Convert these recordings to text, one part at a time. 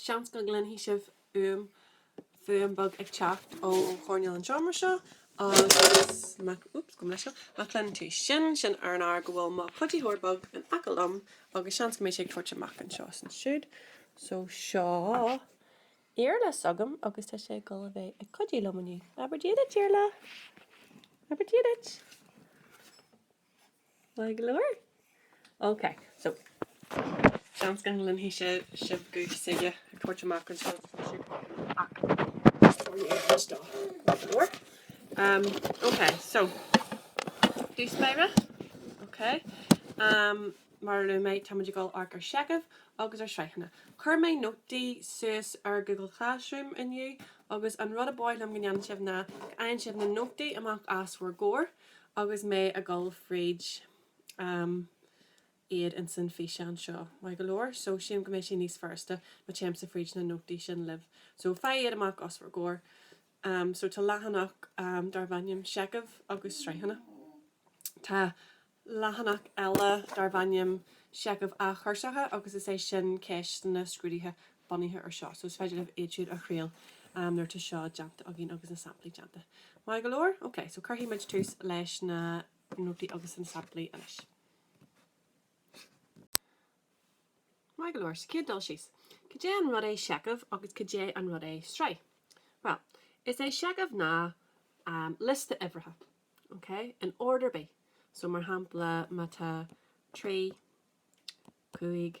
Seans go gcluinfidh sibh um fuaim beag ag teacht ó choirnéal an tseomra seo agus má, úps, gabh mo leithscéal, má chluineann tú sin, sin ar an ábhar go bhfuil mo chuidítheoir beag in aice liom agus seans go mbeidh sé ag tabhairt amach anseo is ansiúd. So seo Iarla s'agam agus tá sé ag dul a bheith ag cuidíú liom inniu. Abair dia duit, Iarla! Abair dia duit! Maith go leor. Ok, so, seans go gcluinfidh sibh é seo ag tabhairt amach an scéal seo freisin, ach seo í an chuid dó. Maith go leor. Ahm, ok, so, dtús báire, ok, ahm, mar a luaigh mé, táimid ag dul a amharc ar sheichimh agus ar shraitheanna. Chuir mé nótaí suas ar Google Classroom inniu, agus an rud ab áil liom go ndéanann sibh ná go fhaigheann sibh na nótaí amach os bhur gcomhair, Agus mé ag dul fríd, am, iad ins an físeán seo, maith go leor, so sílim go mbeidh sé níos furasta má téimse fríd na nótaí sin libh. So faigh iad amach os bhur gcomhair. Am, so tá leathanach darb ainm Seicheamh agus Sraitheanna. Tá leathanach eile darb ainm Seicheamh Athchúrsacha agus is é sin ceisteanna scrúdaithe bunaithe ar seo, so is féidir libh iad siúd a thriail nuair tá seo déanta againn agus na samplaí déanta. Maith go leor? Ok, so cuirfidh muid tús leis na nótaí agus na samplaí anois. Maith go leor, sa chéad dul síos, cad é an rud é seicheamh agus cad é an rud é sraith? Bhuel, is é seicheamh ná liosta uimhreacha, ok, in ord ar bith, so mar shampla má tá trí, cúig,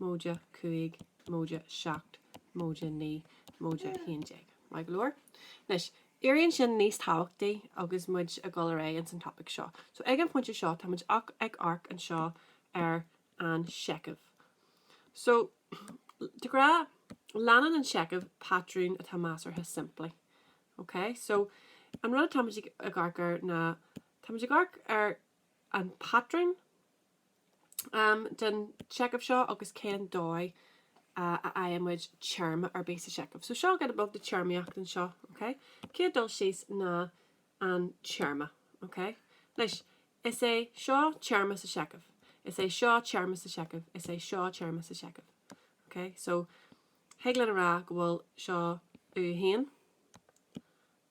móide cúig, móide seacht, móide naoi, móide a haon déag. Maith go leor. Anois, éiríonn sin níos tábhachtaí agus muid ag dul ar aghaidh ins an topaic seo. So, ag an phointe seo, táimid ach ag amharc anseo ar an seicheamh. So, de ghnáth, leanann an seicheamh patrún atá measartha simplí. OK? So, an rud atáimid ag amharc air ná, táimid ag amharc ar an patrún, den seicheamh seo agus cén dóigh a fhaigheann muid téarma ar bith sa seicheamh. So seo giota beag de téarmaíocht anseo, ok? Céad dul síos ná an téarma, ok? Anois, is é seo téarma sa seicheamh, is é seo téarma sa seicheamh, is é seo téarma sa seicheamh, ok? So thig linn a rá go bhfuil seo U1,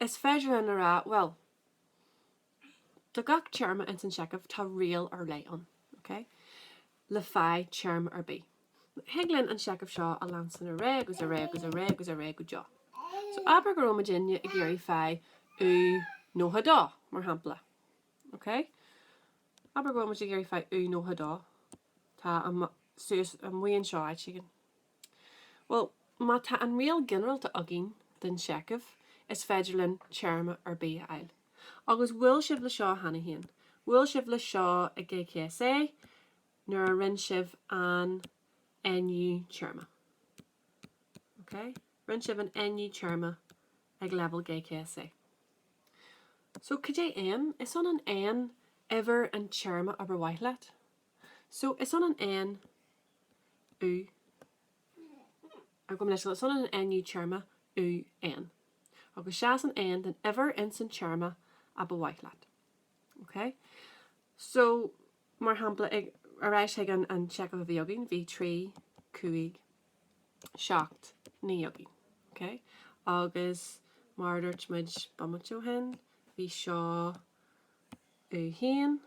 Is féidir linn a rá, bhuel, do gach téarma ins an seicheamh tá riail ar leith ann, ok? le faigh téarma ar bith. Thig linn an seicheamh seo a leanstan ar aghaidh agus ar aghaidh agus ar aghaidh agus ar aghaidh go deo. So abair go raibh muidinne ag iarraidh faigh u 92, mar shampla, ok? Abair go raibh muid ag iarraidh faigh u 92, atá suas amuigh anseo áit éigin. Bhuel, má tá an riail ginearalta againn den seicheamh, is féidir linn téarma ar bith a fháil. Agus bhuail sibh le seo cheana féin. Bhuail sibh le seo ag GCSE nuair a rinne sibh an Nú téarma. Ok? Rinne sibh an Nú téarma ag leibhéal GCSE. So, cad é N? Is ionann N uimhir an téarma ab ar mhaith leat. So, is ionann N. ó gabh mo leithscéal, so an Nú téarma UN agus seasann N don uimhir ins an téarma a ba mhaith leat. OK? So, mar shampla, ag, ar ais chuig an, an seicheamh a bhí againn, bhí 3, 5, 7, 9 againn. OK? Agus, mar a dúirt muid bomaite ó shin, bhí seo. U1,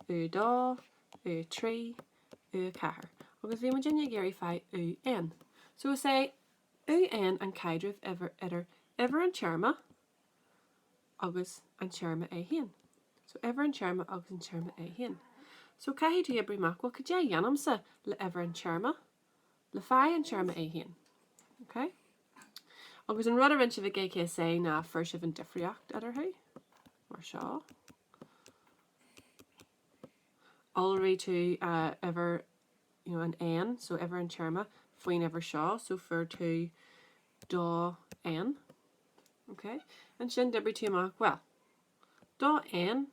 U2, U3, U4, agus bhí muidinne ag iarraidh faigh UN. So is é UN an caidreamh uimhir idir uimhir an téarma agus an téarma é féin. So uimhir an téarma agus an téarma é féin. So caithfidh tú oibriú amach, bhuel, cad é a dhéanaimse le uimhir an téarma le faigh an téarma é féin. OK? Agus an rud a rinne sibh ag GCSE ná fuair sibh an difríocht eadarthu, mar seo. Iolraigh tú uimhir an N, so uimhir an téarma, faoin uimhir seo, so fuair tú 2N. OK? Ansin d'oibrigh tú amach, bhuel, Dó N,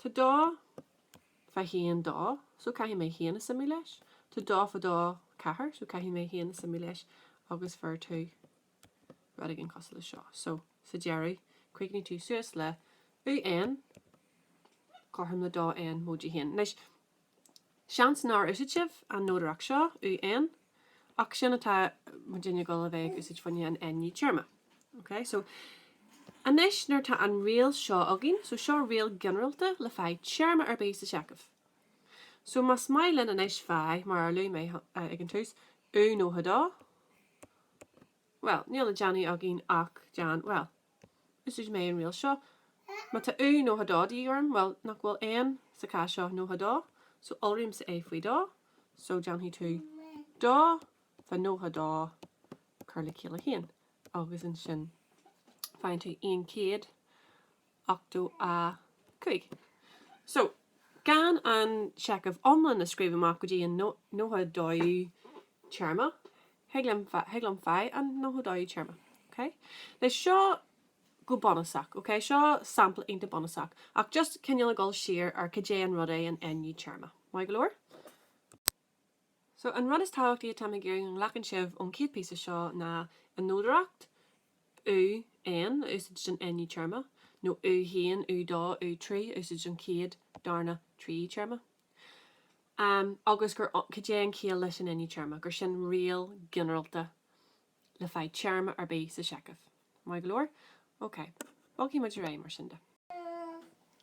tá dó faoi haon dó, so caithfidh mé haon a suimiú leis, tá dó faoi dó ceathair, so caithfidh mé haon a suimiú leis, agus fuair tú, rud éigin cosúil leis seo. So, sa deireadh, chríochnaigh tú suas le, U N, cothrom le dó N, móide haon. Anois, Seans nár úsáid sibh an nodaireacht seo, UN, ach sin atá muidinne ag dul a bheith ag úsáid fá choinne an Nú téarma. OK, so anois nuair atá an riail seo againn, so seo riail ginearalta le faigh téarma ar bith sa seicheamh. So más maith linn anois faigh, mar a luaigh mé ag an tús, U 92, Bhuel, níl le déanamh againn ach déan, bhuel, úsáid mé an riail seo, má tá u nócha dó de dhíth orm, bhuel, nach bhfuil N sa chás seo nócha dó, so iolraímse é faoi dó, so déanfaidh tú dó fá nócha dó cur le chéile haon, agus ansin faigheann tú aon chéad. 85. So, gan an seicheamh iomlán a scríobh amach go dtí an nócha dóú téarma, thig liom, thig liom faigh an nócha dóú téarma, ok? Anois, seo go bunúsach, ok? Seo sampla iontach bunúsach, ach just cineál ag dul siar ar cad é an rud é an Nú téarma. Maith go leor? So, an rud is tábhachtaí atáim ag iarraidh go nglacann sibh ón chéad píosa seo ná an nodaireacht, u, N, a úsáid don Nú téarma, nó u haon, u dó, u trí a úsáid don chéad, darna, tríú téarma. Amm, agus gur, cad é an ciall leis an Nú téarma, gur sin riail ginearalta le faigh téarma ar bith sa seicheamh. Maith go leor. Ok. Bogfaidh muid ar aghaidh mar sin de.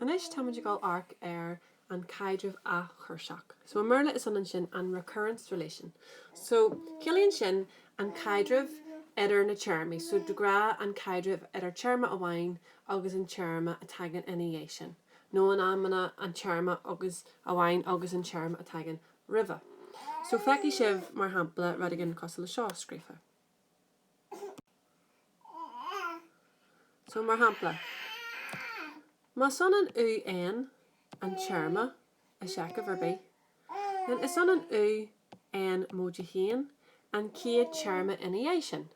Anois táimid ag dul amharc ar an caidreamh athchúrsach. So i mBéarla is ionann sin an recurrence relation. So ciallaíonn sin an caidreamh idir na téarmaí. So de ghnáth an caidreamh idir téarma amháin agus an téarma a tagann ina dhiaidh sin, nó in amanna an téarma agus amháin agus an téarma a tagann roimhe. So feicfidh sibh, mar shampla, rud éigin cosúil le seo scríofa. So, mar shampla, más ionann u N an téarma i seicheamh ar bith, then is ionann u N móide haon an chéad téarma ina dhiaidh sin.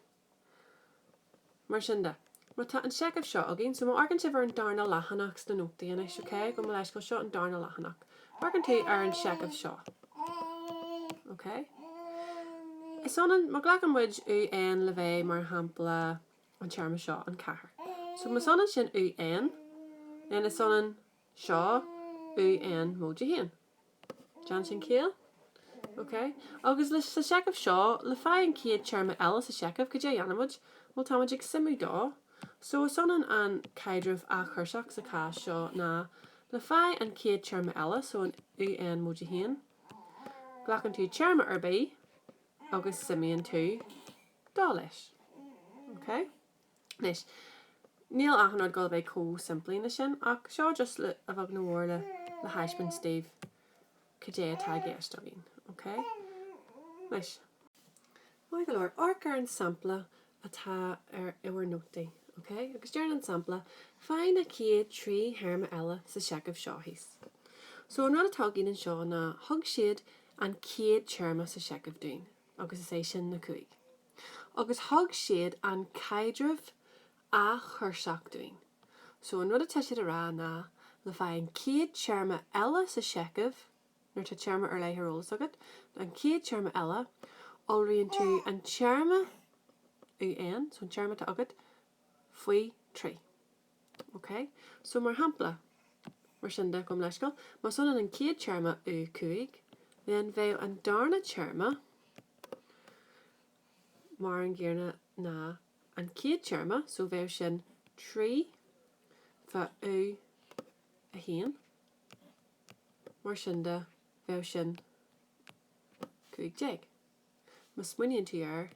Mar sin de, má tá an seicheamh seo againn, so má amharcann sibh ar an darna leathanach sna nótaí anois, ok, gabh mo leithscéal, seo an darna leathanach, amharcann tú ar an seicheamh seo, ok, is ionann, má ghlacann muid UN le bheith mar shampla an téarma seo, an ceathair, so más ionann sin UN, then is ionann seo UN móide haon. Déanann sin ciall. Ok. Agus leis, sa seicheamh seo, le faigh an chéad téarma eile sa seicheamh, cad é a dhéanfaimid? Bhuel, táimid ag suimiú dó. So, is ionann an caidreamh athchúrsach sa chás seo ná, le faigh an chéad téarma eile, so an u-n móide 1, glacann tú téarma ar bith agus suimíonn tú dó leis. Ok? Anois, níl achan rud ag dul a bheith chomh simplí le sin, ach seo just le, a bheag nó a mhór le, le thaispeáint daoibh cad é atá i gceist againn, ok? Anois, maith go leor, amharc ar an sampla atá ar, i bhur nótaí, ok? Agus deireann an sampla, Faigh na chéad trí théarma eile sa seicheamh seo thíos. So, an rud atá againn anseo ná, thug siad an chéad téarma sa seicheamh dúinn, agus is é sin ná cúig. agus thug siad an caidreamh athchurseach dúinn. So an rud atá siad a rá ná le fáil an chéad téarma eile sa seicheamh, nuair atá téarma ar leith ar eolas agat, an céad téarma eile, iolraíonn tú an téarma, UN, so an téarma atá agat, faoi thrí. OK, so mar shampla, mar sin de, gabhaim leithscéal, más ionann an chéad téarma, u 5, then bheadh an darna téarma mar an gcéanna ná an chéad téarma, so bheadh sin 3 fa u 1, mar sin de, bheadh sin 15. Má smaoiníonn tú air,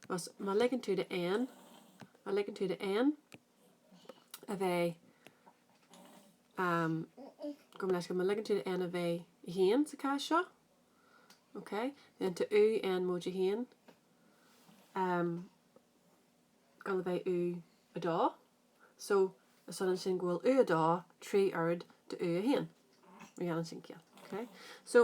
más, má ligeann tú do N, má ligeann tú do N, a bheith um gabhaim leis má ligeann tú do N a bheith 1 sa chás seo ok then tá u N móide 1 ag gabháil a bheith U2 so is ionann sin go bhfuil U2 trí oiread de U1 má dhéanann sin ciall ok so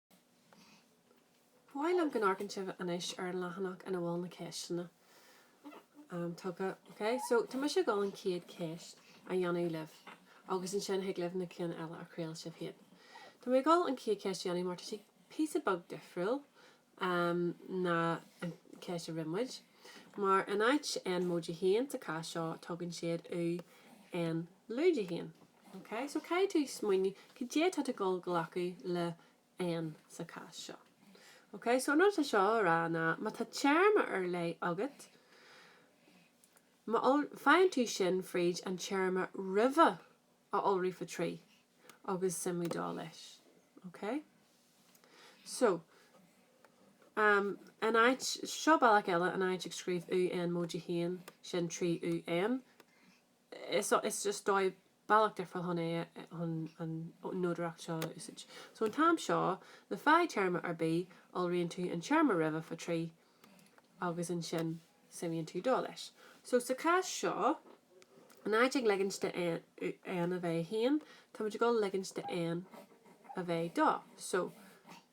mhaith liom go n-amharcann sibh anois ar an leathanach ina bhfuil na ceisteanna tugtha. Ok, so tá mise ag dul an chéad cheist a dhéanamh libh agus ansin thig libh na cinn eile a thriail sibh féin. Tá mé ag dul an chéad cheist a dhéanamh mar tá sí píosa beag difriúil ná an cheist a rinne muid. Mar in áit N móide haon sa chás seo tugann siad u, N lúide haon. OK, so caithfidh tú smaoineamh cad é atá tú dul glacadh le N sa chás seo. OK, so an rud atá seo a rá ná má tá téarma ar leith agat, faigheann tú sin fríd an téarma roimhe a iolrú fa trí agus suimiú dó leis. OK? So, um, in áit, seo bealach eile in áit ag scríobh UN móide a haon sin trí UN, Is just dóigh bealach difriúil chun an nodaireacht seo a úsáid. So an t-am seo, le fáil téarma ar bith, iolraíonn tú an téarma roimhe fa trí agus ansin suimíonn tú dó leis. So sa chás seo, in áit ag leigint de N a bheith 1, táimid ag dul leigint de N a bheith 2. So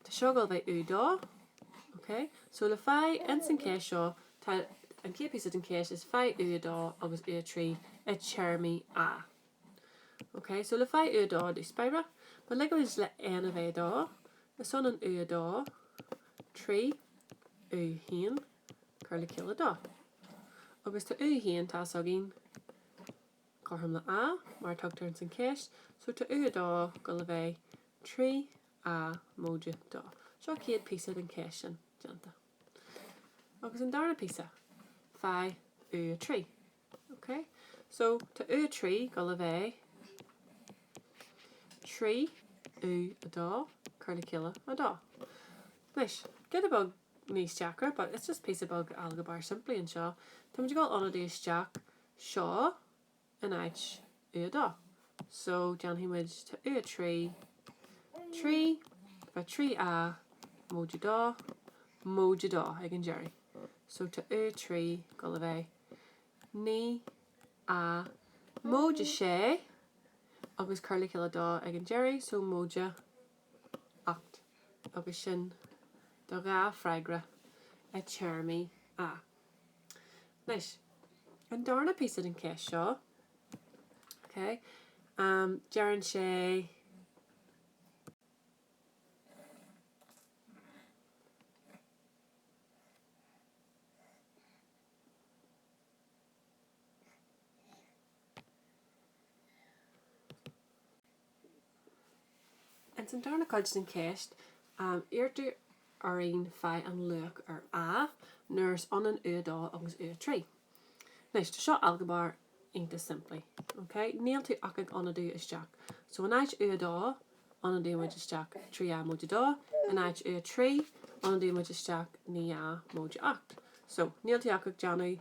tá seo ag dul bheith U dó. Ok? So le fáil ins an cás seo, Tá an chéad píosa den cheist is faigh U2 agus U3 i dtéarmaí A. Ok, so le fáil U2 dúirt mé ag ligint le N a bheith 2, is ionann U2, 3, U1, cur le chéile do. Agus tá U1 tá fhios againn cothrom le A, mar a tugtar ins an cheist, so tá U2 ag dul a bheith 3, A, móide do. Seo chéad píosa den cheist sin déanta. Agus an dara píosa, faigh U3. Ok? So, tá U3 ag dul a bheith 3 U2, cur le chéile 2. Anois, giota beag níos deacra, but it's just píosa beag ailgéabar simplí anseo, táimid ag dul ionadú isteach, seo in áit U2. So, déanfaidh muid, tá U3, trí faoi trí A, móide dó, móide dó ag an deiridh. So, tá U3, ag dul a bheith, naoi A, móide sé, agus cur le chéile dó ag an deiridh, so, móide ocht. Agus sin do dhá freagra i téarmaí A. Anois, an darna píosa den cheist seo, ok, deireann sé, Ins an darna cuid den cheist, iarrtar orainn faigh an luach ar A nuair is ionann U2 agus U3. Anois, tá seo ailgéabar iontach simplí, ok? Níl tú ach ag ionadú isteach. So, in áit U2, ionadaímid isteach 3 A móide 2, in áit U3, ionadaímid isteach 9 A móide 8. So, níl tú ach ag déanamh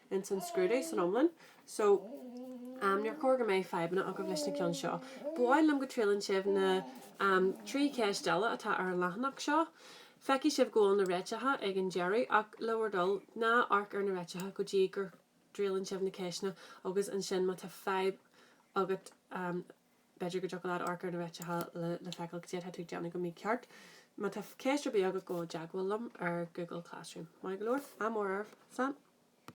ins an scrúdú san iomlán. So, um, níor chóir go mbeidh fadhbanna agaibh leis na ceann seo. Ba mhaith liom go dtriaileann sibh na, um, trí cheist eile atá ar an leathanach seo. Feicfidh sibh go bhfuil na réiteacha ag an deireadh, ach le bhur dtoil, ná amharc ar na réiteacha go dtí go dtriaileann sibh na ceisteanna, agus ansin má tá fadhb agat, um, b'fhéidir go dtiocfadh leat amharc ar na réiteacha le, le feiceáil cad é atá tú ag déanamh go mícheart. Má tá ceist ar bith agat gabh i dteagmháil liom ar Google Classroom. Maith go leor. Ádh mór oraibh. Slán.